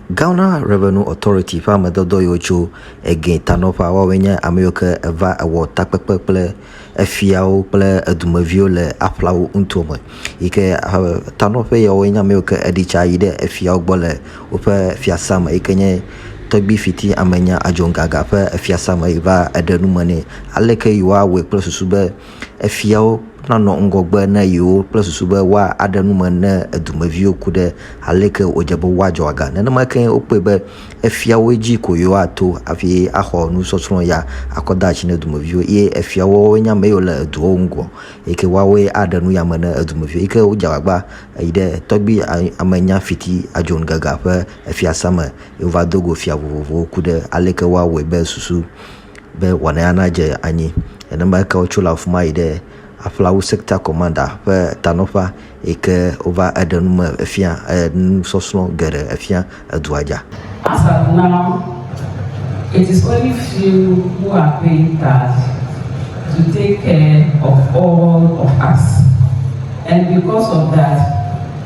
Ghana Revenue Authority ƒe amedɔdɔ yiwo tso Egee ta nɔƒea, woawoe nye ame yiwo ke eva ewɔ takpekpe kple efiawo kple edumeviwo le aƒlawo ŋuto me. Yi ke eh, tanɔƒe yawoe nye ame yiwo ke eɖi tsa yi ɖe efiawo gbɔ le woƒe fiasã me yi ke nye Tɔgbi Fiti Amenya Adjongaga ƒe fiasã me yi va eɖe nu me nɛ aleke yewoawɔe kple susu be Efiawo nanɔ ŋgɔgbe na yewo kple susu be woaɖe nu me ne dumeviwo ku ɖe aleke wòdze be woadzɔ aga. Nenema kee wokpɔe be efiawoe dzi ko yewoato hafi axɔ nusɔsrɔ̃ ya akɔ de asi na dumeviwo eye efiawo woawoe nye ame yiwo le duawo ŋgɔ eyi ke woawoe aɖe nu ya me na dumeviwo eyi ke wodze agbagba yi ɖe tɔgbui amenya fiti Adjon Gaga ƒe fiasã me eye wova do go fia vovovowo ku ɖe aleke woawɔe be susu be wɔnaya nadze anyi. Nenema ke wotso le afi ma yi ɖe Aflawu Sekta Kɔmanda ƒe tanɔƒea yi ke wova eɖe nu me fia enusɔsrɔ̃ geɖe efia edua dza. As at now, it is only few who are paying tithe to take care of all of us and because of that,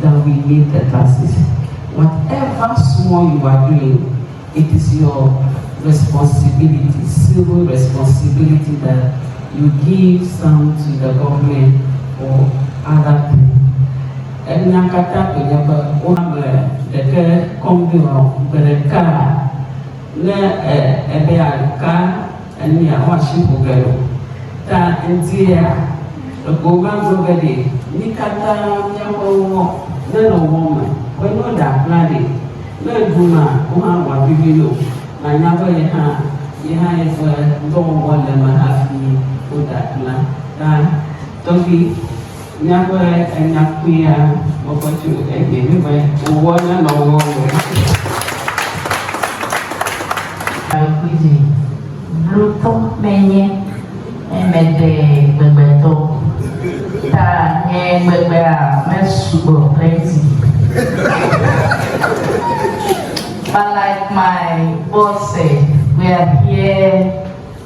that we need the glasses whatever small you are doing it is your responsibility civil responsibility that you give some to the government or other people enya katã koe nye be woame ɖeke kɔmpiuta gbe ɖeka ne ebe aka Enya xɔasi bube ɖo ta ŋutie a ego ma gblɔ be ɖe mi kata miaƒe ŋɔ ne nɔ ŋɔ me be no ɖa kpla ɖe ne ŋu ma wo hã ŋɔa vivi no na nya be ye hã ye hã ye ƒe ŋdɔ wɔwɔ le me hafi wo ɖa kpla ta tɔgbi Míaƒe enya kpuia gbɔgbɔ tso egbe be me wòwɔ na nɔwo le Ɖakuiɖe blotɔ menye eme ɖe gbegbetɔ ta nye gbegbea me sugbɔ plenty but like my boss said we are here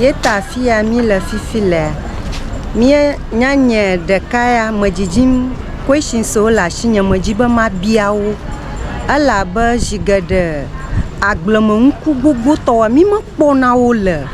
Yeta afi ya míle fifi lea, mía nya nye ɖeka ya medzidzim questions wo le asi nye medzi be mabia wo ele abe zi geɖe agble me ŋku gbogbo tɔ woa mi me kpɔ na wo le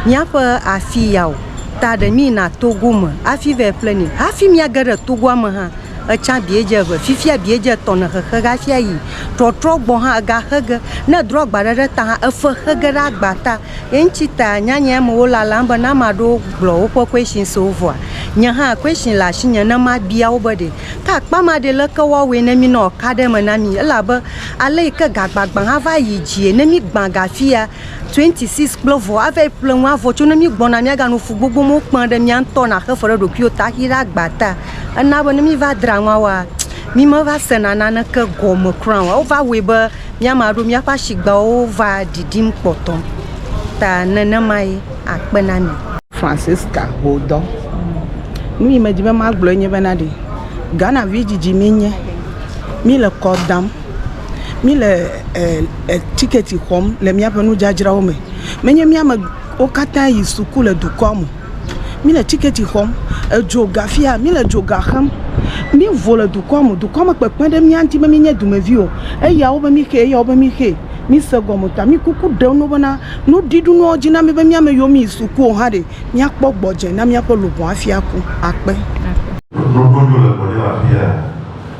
mía ƒe afi ya o ta ɖe mi yina Togo me afi va yi ƒle ni hafi mía ge ɖe Togoa me hã etsã bia dze eve fifia bia dze etɔ ne xexe ge hafi ayi trɔtrɔ gbɔ hã ega xe ge ne edro agba ɖe ɖe ta hã efe xe ge ɖe agba ta. Eŋtsi ta nyanyɛ me wo lalam be ne ama ɖewo gblɔ woƒe kwɛshin so vɔa, nye hã kwɛshin le asinye ne mabia wo be ɖe ke akpa ma ɖe leke woawɔe ne mi ne wòaka ɖe eme na mi. Elabe ale yi ke gagbagbã hã va yi dzie ne mígbã ga fia 26 kple vɔ ava yi ƒle ŋu avɔ tso ne mígbɔna míaganɔ fu gbogbo me wokpea ɖe mía ŋutɔ naxe fe ɖe ɖokuiwo ta hafi ɖe agba ta ena be ne míva dra nua wɔa mímeva sena naneke gɔme kura o. Wova wɔe be. Mía me aɖewo míaƒe asigbawo va ɖiɖim kpɔtɔ ta nenemae akpe na mi. Francisca Hodɔ, Nu yi medi be magblɔe nye bena ɖe Ghana vi dzidzi mienye, míle kɔ dam, míle tiketi xɔm le míaƒe nudzadzrawo me. Menye míamewo katã yi suku le dukɔa me o. mi le tikɛti xɔm, edzo ga fia mi le dzoga xem, mi vo le dukɔ me, dukɔ me kpekpe ɖe mía ŋuti be mi nye dumevi o, eyawo be mi xe, eyawo be mi xe, mi se gɔme ta, mi kuku ɖem ɖo bena nu ɖiɖu nua dzi na mi be mía me yiwo mi yi suku o hã ɖe mía kpɔ gbɔdze na mía ƒe luʋɔ hafi aku. Akpe. Ɖoɖo ɖo le gbɔdze le afia?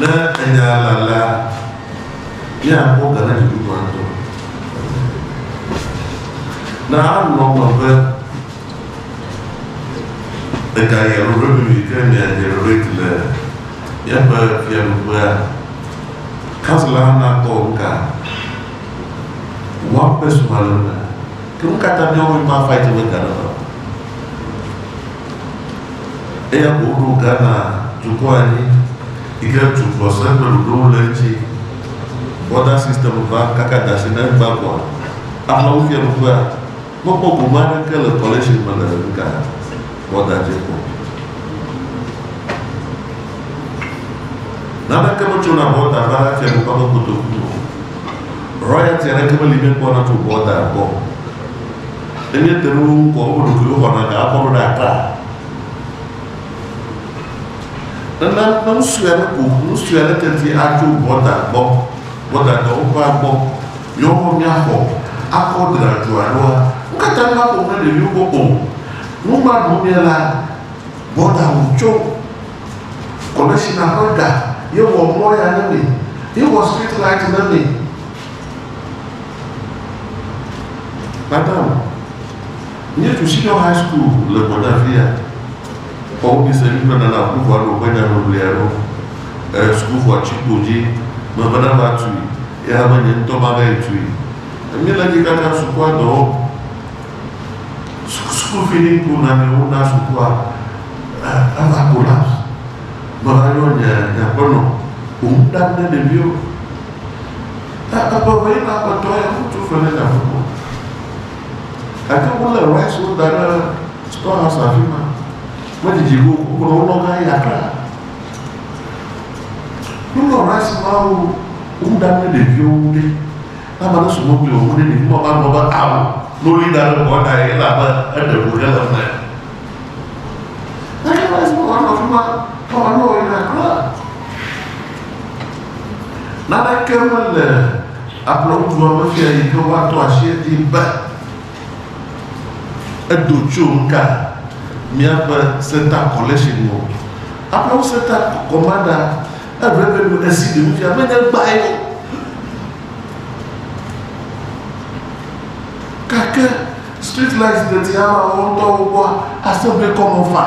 Ne enya la alea, míakpɔ ga na dziku gbãtɔ. Na alɔ̃ me be egayia alo ɖe mi ke miadze Lorraine le míaƒe fiaɖuƒea. Kansela hã nakpɔ nu ka wɔm be srɔ̃a le eme. Ke nu ka ta míawo mímafa edzi be ga neva o? Eya ko woɖo Ghana dukɔ anyi yi ke tu gbɔsɔsɔ kple ɖoɖowo le eŋuti. Border system va kaka da asi ne egbea kɔa, amewo fia nukua, mekpɔ gome aɖeke le coalition me le nuka border dzi kɔ. Naneke metsona border va fiadukɔa ƒe kotoku me o. Royalty aɖeke meli mekpɔna tso border gbɔ o. Ne míete ɖe wo ŋu ko woƒe ɖokuiwo xɔna ga akɔ ɖo ɖe akpa. Nana ne nu sue aɖe ko ŋu, nu sue aɖe teti atso bɔta gbɔ, bɔta dɔ woƒe agbɔ, yewoawo míaxɔ akɔ dra dzo aɖoa, wo katã míaƒo nu na ɖeviwo gbɔ o. Nu ma ɖum mía la, bɔta ŋu tso kɔmishina ƒe ga ye wɔ mɔ ya na mi, ye wɔ street light na mi. Madam, míetu Senior High School le gbɔnye afia. Xɔ wobi se mí bena na ƒuƒua ɖo ƒe nyaŋiŋlia ɖo. E, sukuxɔa tsi kpo dzi mebe na va tui, eya hã be nye ŋutɔ mava yi tui. Mí le dzi kaka sukua dɔ wɔm. School feeding pool na mí wona sukua e, eva collapse. Meva yɔ nye nye aƒenɔ wò nu ɖam ne ɖeviwo. Ke eƒe ʋee na kpɔtɔ ya ŋutsu ƒe ɖe nyaƒo ko. Gake wolé Rice wo da ɖe Store House afi ma. Medidi ɖo o, wogblɔ wolɔ va yi Accra. Wolɔ Rice mawo wu ɖa kple ɖeviwo wu ɖe. Ne ame aɖe su mɔ kpli wò wu ɖe, ɖevi ma magblɔ be ao, ne woli da ɖe ŋgɔwò ta ye elabe eɖe ŋu hele eme. Eye esi wòva nɔ afi ma xɔ me nɔ yina kura. Naneke mele ablɔdua me fia yi ke woaɖo asi edzi be edo tso nuka míaƒe Center Collection o. Aƒewo Center Commander eRevenue esi ɖe nufia menye gbae o. Gake Street light deti hã ma wo ŋutɔ wo gbɔ ase be kɔ mo fã.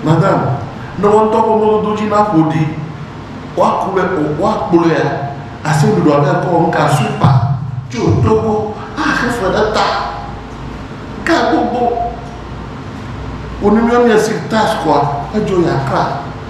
Madam, ne wo ŋutɔ ƒe mɔdodo dzi na ƒo ɖi, wa ku le o, wa kplɔea, ase ɖuɖu aɖe kɔ ŋu ka sweeper, tso to gbɔ, a xe fe ɖe ta. Ga gbogbo. Wo ni mi ɔmi esi task wa, edzo ya kra.